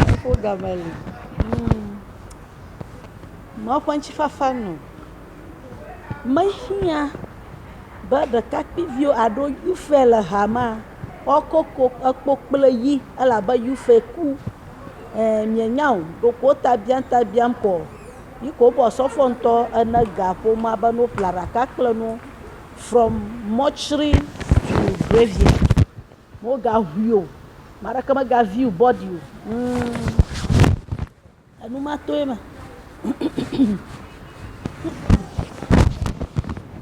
Nuƒo game li. Mɔa ƒe ŋutifafa nu mehiã be ɖekakpuiviwo alo youthfare le hamea woakɔ kpo kple yi elabe youthfare ku. E mienya o ɖeko wota biam ta biam koa yi ke wobɔ osɔfo ŋutɔ ene ga ƒomea be ne woƒle aɖaka kple nuwo. From mortuary to graveyard, wogaŋui o, ame aɖeke mega view bɔɖi o, huumm, enu ma tɔe ma,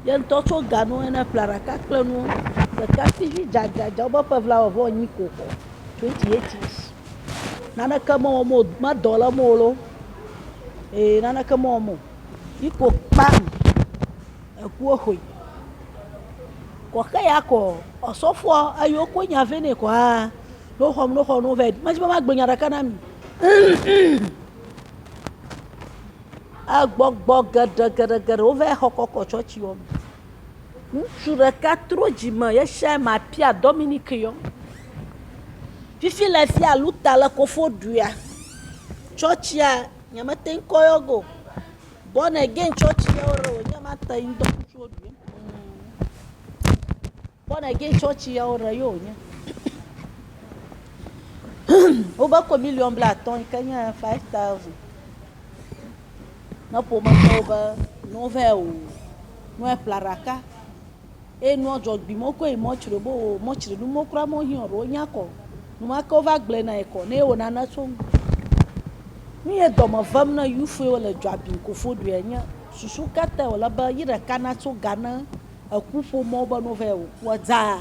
ye ŋutɔ tsɔ ga nɔ ene ƒle ɖeka kple nuwo, ɖekakpuivi dzadzadza wobe ƒe blaeve vɔ nyi ko xɔ, twenty eight years, naneke mewɔm o, medɔ le eme o loo, ee naneke mewɔm o, yi ko kpam. Ekuɔ xoe. Kɔ xe ya kɔ ɔsɔfɔa eyi wo ko nya vɛ nɛ kɔ a no xɔ no xɔ no vɛ. Mɛdzi be ma gbe nya ɖeka na mi. Egbɔgbɔ geɖe geɖe geɖe wo vɛ xɔ kɔkɔ tsɔtsi wɔ me. Ŋutsu ɖeka tro dzi me yeshae ma pia Dominic yɔ. Fifi le fia luta le kofoɖuia. Tsɔtsia nya me te ŋkɔ yɔ go. Born again church ye wore o nye ma te ŋdɔ ŋutsu wo ɖui. Born again church ye wore yo nye. Wobe ko million bla atɔ yi ke nye five thousand. Ne ƒome tɔwo be nove o, nue ƒla ɖaka. Eye nua dzɔgbui mɔ kɔe mɔ tsri bo wo mɔ tsri nu mɔ kura mɔ hiɔ ɖewo nya kɔ. Nu ma ke wova gblɔe na ye kɔ ne ye wo nana tso nu. Nu ye dɔme vem na yufu ye wo le dzɔabim kofo ɖuia nye susu kata wo le be yi ɖeka na tso ga ne eku ƒomɔ be no vɛ wo kua dzaa.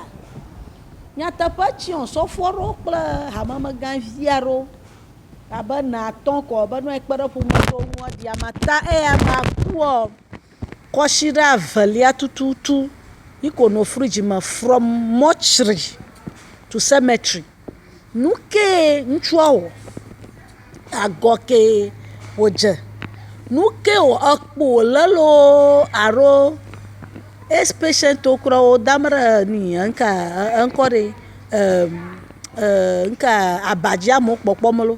Nyateƒe tsiɔ sɔfo ɖo kple hamemega via ɖo abe na tɔn kɔ be nua ekpe ɖe ƒomɔ tso nua ɖia mata eya ma kuɔ. Kɔsiɖa velia tututu yi ko no fridge me from mortuary to cemetery. Nu kee ŋutsua wɔ? Agɔ kee wodze. Nu ke wɔ? Ekpo wòlé loo alo age patient wo kura wo dam ɖe nui eŋkaa eŋkɔ ɖee eer eer eŋkaa abadzia me wokpɔkpɔm loo.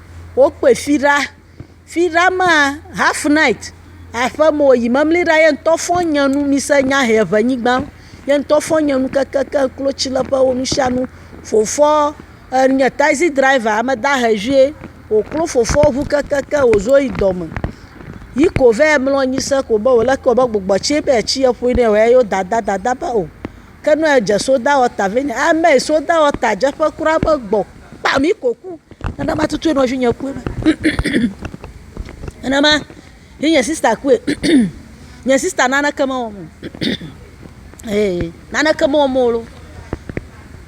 wokpɔe fi ɖa. Fi ɖa maa, half night aƒe me wòyi mimli ɖa, ye ŋutɔ fɔ nye nu, mise nya he ŋe nyigba. Ye ŋutɔ fɔ nye nu kekeake klotsileƒewo nu sia nu. Fofɔ enye tazi driver, ame dahe vie. Wòklo fofoa ŋu kekeake wòzo yi dɔme. Yi ko va yi mlɔ anyi se ko be wòle eke wòbe gbugbɔ tsie be yetsi eƒoe nɛ o. Eya ye wodada dada be o. Ke nɔe dze soda ɔta vɛ nye amee soda ɔta dze ƒe kura me gbɔ kpa mi ko ku nana ma tutu nɔvi nye kue nana ma yi nye sista kue nye sista naneke me wɔm ee naneke me wɔm o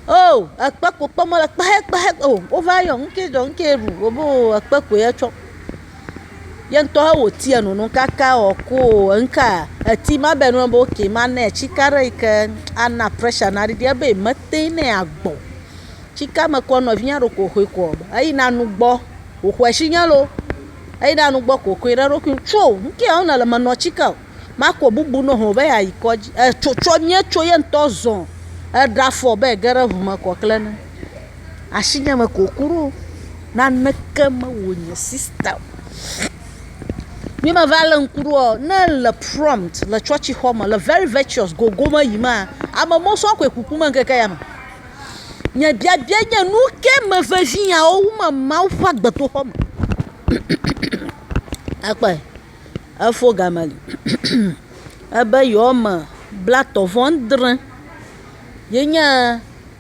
o ekpe ko kpɔm mele kpehe kpehe o wova yɔ nuke dzɔ nuke ɖu wobo ekpe koe tsɔ. Yeŋtɔ he wòtiɛ nu num kaka ɔ ku o eŋka eti ma be nɔnɔ be oke ma nɛ cika ɖe yi ke ana prɛsha naɖiɖi ebe metɛŋ nɛ agbɔ. Cika mekɔ nɔvinyɛ ɖo ko hoe kɔ eyi na nu gbɔ wòxɔɛ shinyɛ lo eyi na nu gbɔ ko koe na eɖokui tso ŋkɛ ɔ nele menɔ cika o. Marko bubu nɔ ho be yeayi kɔdzi. Etso tsɔ nye tso ye ŋutɔ zɔ eɖe afɔ be ege ɖe ŋu me kɔ kle ne. Asinye me ko ku ɖo. Naneke mewɔ nye sista o. Ye me va le ŋku ɖoa ne le prompt le tsɔtsi xɔ me le very virtuous gogo me yi ma ame mɔ sɔ koe ku ku me ŋkeke ya me. Nye biabia nye nu ke me vevi ya wo wu me Mawu ƒe agbedoxɔ me. Akpɔe. efo game ebe yewoame blatɔ̃ vɔ adre yenye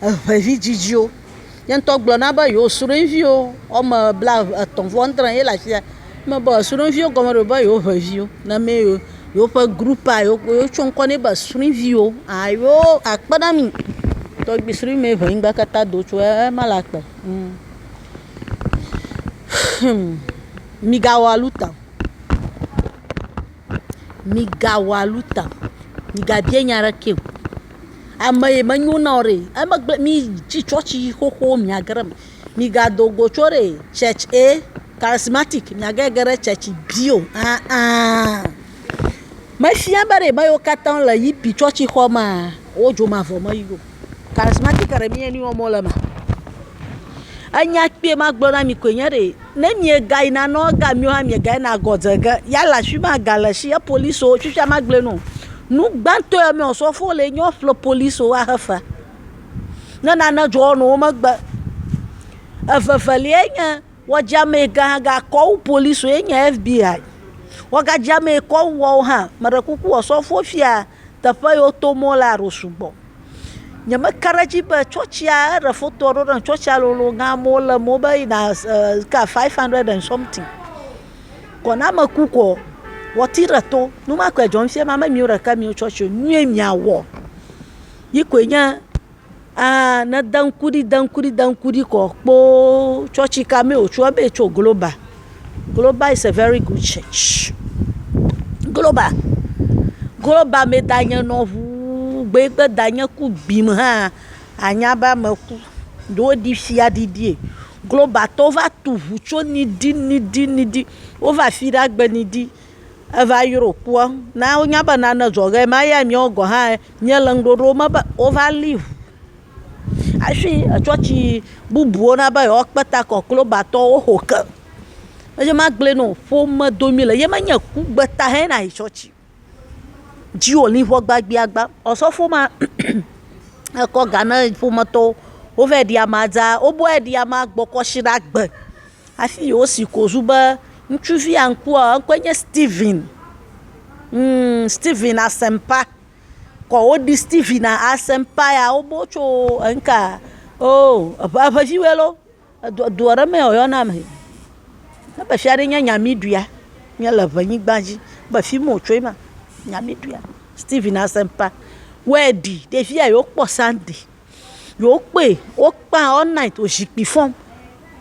eŋevidzidziwo. Ye ŋutɔ gblɔ na be yewo srɔ̃viwo woame blaetɔ̃ vɔ adre ye le afi ya. Eme be srɔ̃viwo gɔme ɖe be yewo ŋe viwo name yewo, yewoƒe grupaa wotsɔ ŋkɔ nɛ be srɔ̃viwo aa yewo akpe ɖe ami. Tɔgbi srɔ̃mɛ ŋe ŋgba katã do tso ema le agbe. Migawɔ aluta o. Migawɔ aluta o. Migabia nya aɖeke o. Ame yi menyo na wò ɖe, emegbe mi tsi tsɔtsi xoxo miage ɖe eme. Migado go tso ɖe tsɛtsi A, karismatik, miage ge ɖe tsɛtsi B o aa. Mefia be ɖe ame yiwo katã le yipi tsɔtsixɔ mea, wodzomavɔ me yi o. Karismatiki ɖe mí enu wɔm wole maa? Enya kpuie ma gblɔ na mi koe nye ɖee, ne miegayi na nɔ ega mio hã miegayi na gɔ dze ge yala afi ma ga le shi ye polisi wo tsutsa ma gblɔe nɔ. Nu gbãtɔ ye mɔ osɔfo le nyɔ ƒle polisi wo ahe fea. Ne nane dzɔ nɔ wo megbe. Evevelia nye wɔdzi ame yi gã ga kɔ wu polisi wo ye nye FBI. Wɔgadzi ame yi kɔ wu woawo hã. Meɖe kuku osɔfo fia. teƒe yi woto mɔ lea ɖo sugbɔ. Nyemeka ɖe edzi be tsɔtsia, eɖe fotoa ɖo nam tsɔtsia lolo gã amewo le eme wobe yina sika five hundred and something. Kɔ ne ame ku koa wɔti ɖe to. Nu ma koe dzɔ fia be ame miwo ɖeke miwo tsɔtsi o. Nu ye miawɔ yi koe nye. Aa ne de ŋku ɖi de ŋku ɖi de ŋku ɖi kɔ kpoo tsɔtsi ka mee wòtso ebe yetso global. Global is a very good church. Global, global me danye nɔ ŋuu gbe gbe danye ku gbim hã anya be ame ku. Ɖo woɖi fia ɖiɖie. Globaltɔwo va tu ŋu tso niɖi niɖi niɖi. Wova afi ɖe agbe niɖi. Eva yrɔ kpua na wonya be nane dzɔ ɣe ma ya nyewo gɔ hã nye le ŋɖoɖo me be wova li ʋu ashi etsɔtsi bubuwo na be yewo kpe ta kɔ klo ba tɔ wo xo ke. Eyi ma gble nɔ ƒome domi le ye me nye ku gbe ta hɛ na yi tsɔtsi dzi wo li ʋɔ gbagba gba. Osɔfo ma ekɔ ga na ƒome tɔwo wova ɖi ama dza wo bu ɖi ama gbɔ kɔ shi ɖa gbe. Hafi yewosi kozu be ŋutsuvia ŋkua, eŋkɔe nye Stephen. Humm, Stephen Asɛmpa. Kɔ woɖi Stephen Asɛmpa ya, wobo tso eŋka, oo, eŋe, eŋeviwoe lɔ. Edɔ, edɔ ɖe mee wòyɔna le. Ebe fi aɖee nye Nyamiɖuia. Míele Eŋenyigba dzi. Ebe fi ma wòtsoe ma. Nyamiɖuia. Stephen Asɛmpa wɔe ɖi. Ɖevia yewokpɔ Sunday. yi wokpe wokpa all night wo zikpui fɔm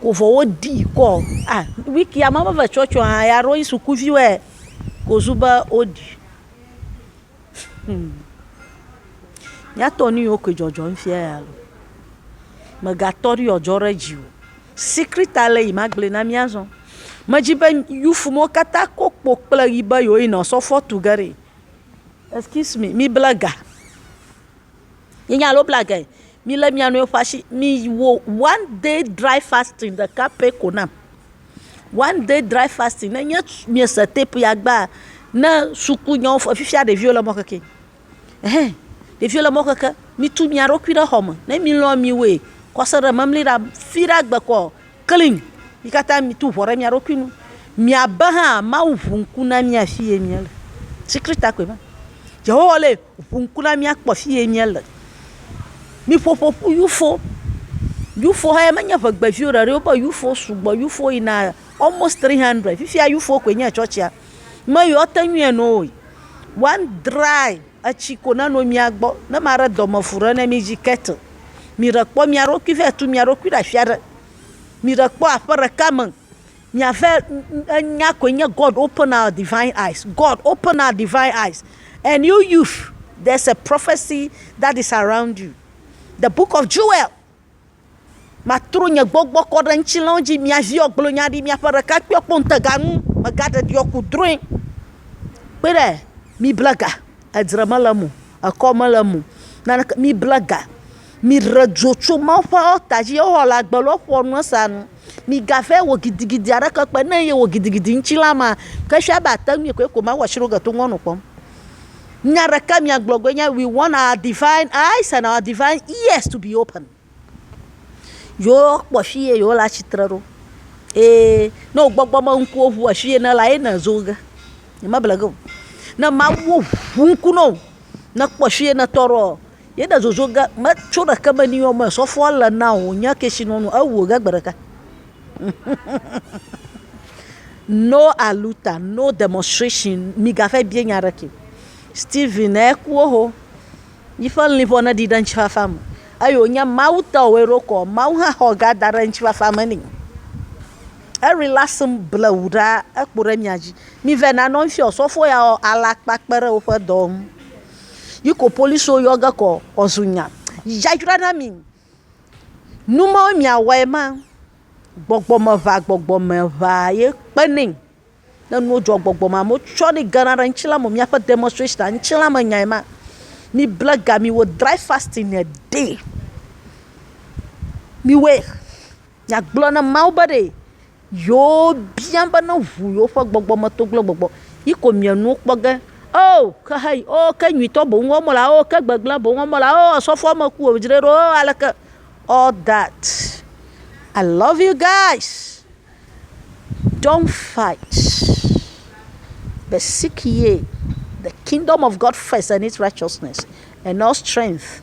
ko vɔ woɖi kɔ a wikia me va va tsɔtsɔ hã ya ɖo sukuviwoe kozu be woɖi hmmm miatɔ nuyiwo ke dzɔdzɔm fia ya lo megatɔ ɖi yewoadzɔ ɖe dzi o secret ale yi magblɔe na mi azɔ medzi be youth mawo katã ko kpo kple ɣi be yewo yina osɔfoɔ tuge ɖi excuse me mibla ga. Mienya alo bla ge. Milé mia nɔewo ƒe asi. Miwɔ one day dry fasting ɖeka pɛ ko nam. One day dry fasting. Nenye miese tepu ya gbãa, ne sukunyawo fɔ, fifia ɖeviwo le mɔ keke. Ɛhɛɛ, ɖeviwo le mɔ keke. Mitu mia ɖokui ɖe xɔme. Ne milɔ̃ miwoe kɔse ɖe memli ɖa fiɖe agbe kɔ Kli, mi katã mitu ʋɔ ɖe mia ɖokui ŋu, miabe hã Mawu ʋu ŋku na mía afie míele. Tsikli ta koe ma. Yehowa le ʋu ŋku na mía kpɔ afie míele. Miƒo ƒo ƒu yufo. Yufo hã ye menye ŋegbeviwo ɖe ɖi o. Wobe yufo sugbɔ. Yufo yina almost tri hundred. Fifia yufo koe nye etsɔtsia. Me yiwo te ŋui enu o. One dry. Etsi ko neno mia gbɔ. Ne maɖe dɔmeƒu ɖe ne mi dzi kettle. Miɖe kpɔ mia ɖokui vae tu mia ɖokui ɖe afi aɖe. Miɖe kpɔ aƒe ɖeka me. Miavae, enya koe nye God open our divine eyes. God open our divine eyes. And you youth, there's a prophecy that is around you. The book of Joel Matro nye gbɔgbɔ kɔ ɖe ŋutilãwo dzi, mia viwo gblɔ nya ɖi, miaƒe ɖekakpuiwo kpɔ ŋutega nu, megaɖe ɖiɔ ku drɔ̃e. Kpe ɖe, mible ga, edzre mele eme o, ekɔ mele eme o, naneke, mible ga, miɖe dzo tso Mawu ƒe ɔlta dzi, Yehowa le agbe lɔ ƒoa nu esa nu. Migavae wɔ gidigidi aɖeke kpe ne yewɔ gidigidi ŋutilã ma, ke efia be ate ŋui koe ko Mawu ashiɖoge to ŋuanɔ kpɔm. Nya ɖeka miagblɔ koe nye, We want our divine eyes and our divine ears to be open. Yewokpɔ fi ye yewole atsitre ɖo. Ee, ne wò gbɔgbɔ me ŋkuwo ʋu afi ye nèle ye nèzo ge. Nyemeble ge o. Ne Mawu ʋu ŋku na wò nekpɔ fi ye nètɔ ɖoa, Yeɖe zozo ge metso ɖeke me ni ɔme sɔfoa le na o nye kesinɔnu ewo ge gbe ɖeka. no aluta, no demonstration, migaƒe bie nya ɖeke. Stephen ekuo ho. Yiƒe liƒo ne ɖi ɖe ŋtsifafa me. Eyo nye mawu tɔ wɔ ɖo kɔ. Mawu hã xɔ ga da ɖe ŋtsifafa me ni. Eri la sm ble wu ɖa ekpo ɖe mia dzi. Mi ve na nɔ ŋfio sɔfo ya o alakpa kpe ɖe woƒe dɔ ŋu. Yiko policiwo yɔ ge kɔ ɔzu nya yayra na mi. Numawo mia wɔe ma gbɔgbɔ me ʋa gbɔgbɔ me ʋa ye kpe nɛ. Ne nuwo dzɔ gbɔgbɔ me amewo tsɔ ne gena ɖe ŋtsi la me miaƒe demonstration ŋtsi la me nyae ma. Mi ble ga mi wɔ dry fasting a day mi wɔe. Nyagblɔ na Mawu be ɖe yewo bia be ne ʋu yewo ƒe gbɔgbɔ me toglo gbɔgbɔ yi ko mia nuwo kpɔ ge. Oo ke hã yi oo ke nyuitɔ boŋ wɔm wole oo ke gbegblẽ boŋ wɔm wole oo osɔfoɔ me ku o dzre ɖo oo aleke all that I love you guys don't fight but seek ye the kingdom of God first and his righteousness and all strength.